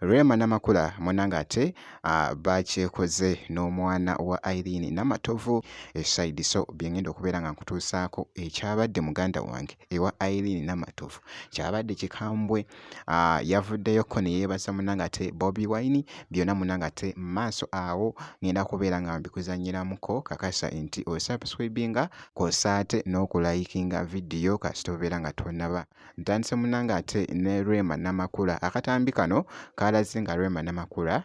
Rema Namakula munange ate ah, bakyekoze n'omwana wa Irene Namatovu esayidi so byengenda okubeera nga nkutuusaako ekyabadde muganda wange ewa Irene Namatovu kyabadde kikambwe ah, yavuddeyoko ne yeebaza munange ate bobi wine byonna munange ate maaso awo ngenda kubeera nga mbikuzanyiramuko kakasa nti osubscribinga kwosa ate n'okulayikinga vidiyo kasita obeera nga tonaba ntandise munange ate ne rema namakula akatambi kano kaalaze nga rema namakula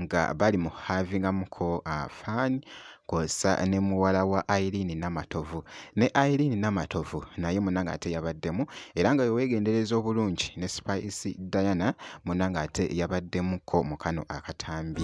nga bali mu kuhaavingamuko fun kw'ossa ne muwala wa Iryn Namatovu. Ne Iryn Namatovu naye munnange ate yabaddemu era nga bwe weegendereza obulungi ne Spice Diana munnange ate yabaddemuko mu kano akatambi.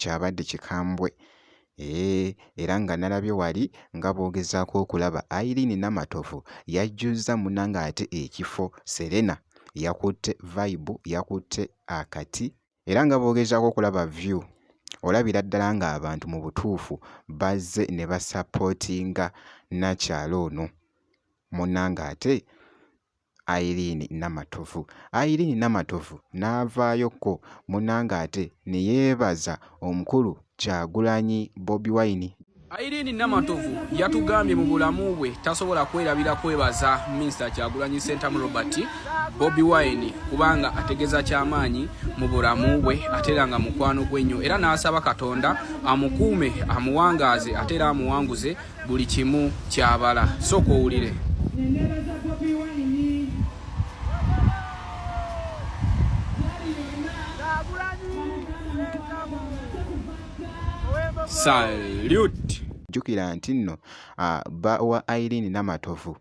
kyabadde kikambwe Eeh era nga nalabye wali nga boogezaako okulaba Irene Namatovu yajjuzza muna ng'ate ekifo Serena yakutte vibe yakutte akati era nga boogezaako okulaba view olabira ddala ng'abantu mu butuufu bazze ne basapootinga nnakyala ono muna ng'ate Irene Namatovu. Irene Namatovu n'avaayo ko munnange ate ne yeebaza omukulu Kyagulanyi Bobi Wine. Irene Namatovu yatugambye mu bulamu bwe tasobola kwerabira kwebaza Minisita Kyagulanyi Ssentamu Robert Bobi Wine kubanga ategeza kyamaanyi mu bulamu bwe ate era nga mukwano gwe nnyo era n'asaba Katonda amukuume amuwangaaze ate era amuwanguze buli kimu kyabala sooka owulire salute jjukira nti nno ah, bba wa irene namatovu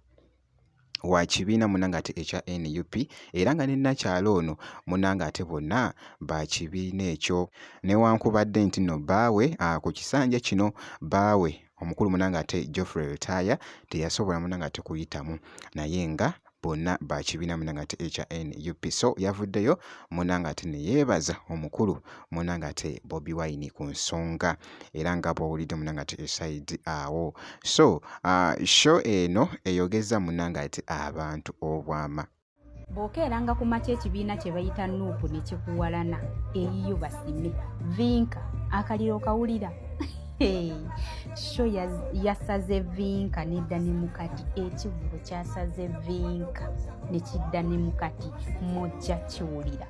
wa kibiina munange ate ekya nup era nga ne nakyala ono munange ate bonna ba kibiina ekyo newankubadde nti no baawe ku kisanja kino baawe omukulu munange ate geoffrey lutaaya teyasobola munange ate kuyitamu naye nga bonna ba kibiina munange ate ekya nup so yavuddeyo munange ate neyeebaza omukulu munange ate bobi wine ku nsonga era nga bw'owulidde munange ati esayidi awo so uh, show eno eyogezza munange ati abantu obwama bw'okeeranga ku makya ekibiina kye bayita nuupu ne kikuwalana eyiyo basime vinka akaliro okawulira sho yasaze vinka nedda ne mukati ekivubo kyasaze vinka ne kidda ne mukati mujja kiwulira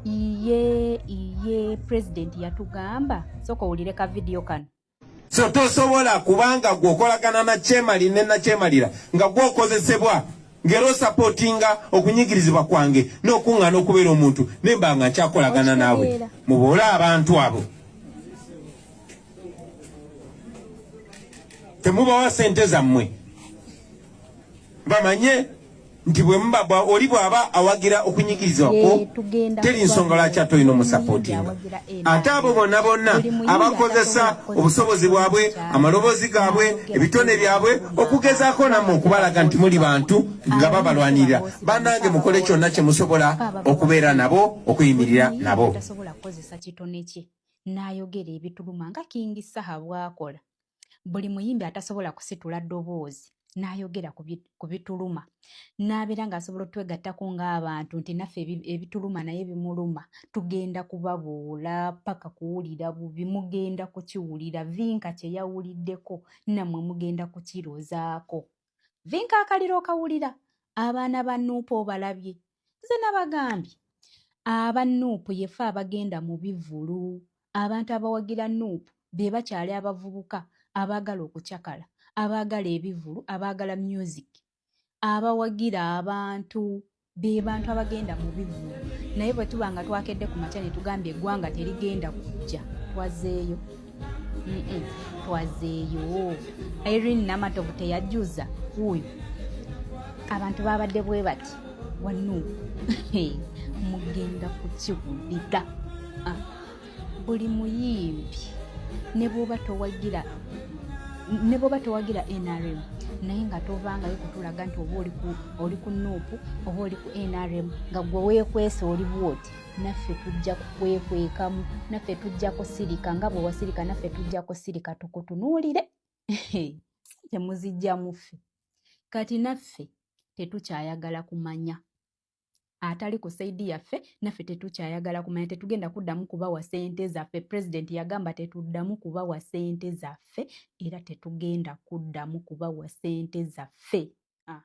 iye iye president yatugamba soka owulire ka video kano so tosobola kubanga gwe okolagana na kyemali ne nakyemalira nga gwe okozesebwa ngero sapotinga okunyigirizibwa kwange n'okuŋŋaana okubeera omuntu nemba nga nkyakolagana naabwe muboole abantu abo temubawa sente zammwe bamanye nti bwemuba oli bwaba awagira okunyigiriza kwo teri nsonga lwaki ate olina omusapootinga ate abo bonna bonna abakozesa obusobozi bwabwe amaloboozi gaabwe ebitone byabwe okugezaako nammwe okubalaga nti muli bantu nga babalwanirira banange mukole kyonna kye musobola okubeera nabo okuyimirira nabo n'ayogera ebituluma nga kingi saha bwakola buli muyimbi atasobola kusitula ddoboozi n'ayogera ku bituluma n'abeera ng'asobola otwegattako ng'abantu nti naffe ebituluma naye bimuluma tugenda kubabuula paka kuwulira bubi mugenda kukiwulira vinka kye yawuliddeko nammwe mugenda kukirozaako vinka akaliro okawulira abaana ba nuupu obalabye nze nabagambye aba nuupu yefe abagenda mu bivulu abantu abawagira nuupu be bakyali abavubuka abaagala okucakala abaagala ebivulu abaagala music abawagira abantu be bantu abagenda mu bivvulu naye bwe tuba nga twakedde ku makya ne tugambye eggwanga terigenda kujja twazeeyo twazeeyo irene namatovu teyajjuza wuuyo abantu babadde bwe bati wano mugenda kukiwulira ah. buli muyimbi ne bwoba towagira ne bwoba towagira nrm naye nga tovangayo kutulaga nti oba oli ku nuupu oba oli ku nrm nga gwe weekwese oli bwoti naffe tujja kukwekwekamu naffe tujja kusirika nga bwe wasirika naffe tujja kusirika tukutunuulire temuzijja muffe kati naffe tetukyayagala kumanya atali ku saidi yaffe naffe tetukyayagala kumanya tetugenda kuddamu kubawa sente zaffe pulezidenti yagamba tetuddamu kubawa sente zaffe era tetugenda kuddamu kubawa sente zaffe ah.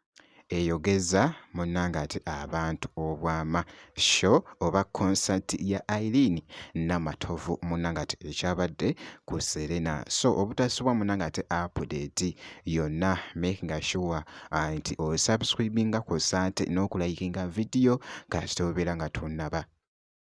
eyogeza munnange ate abantu obwama sho oba konsati ya irene namatovu munnange ate ekyabadde ku serena so obutasubwa munnange ate apudeti yonna makinga shuwa ah, nti osubscribinga kwossa ate n'okulayikinga vidiyo kasita obeera nga tonnaba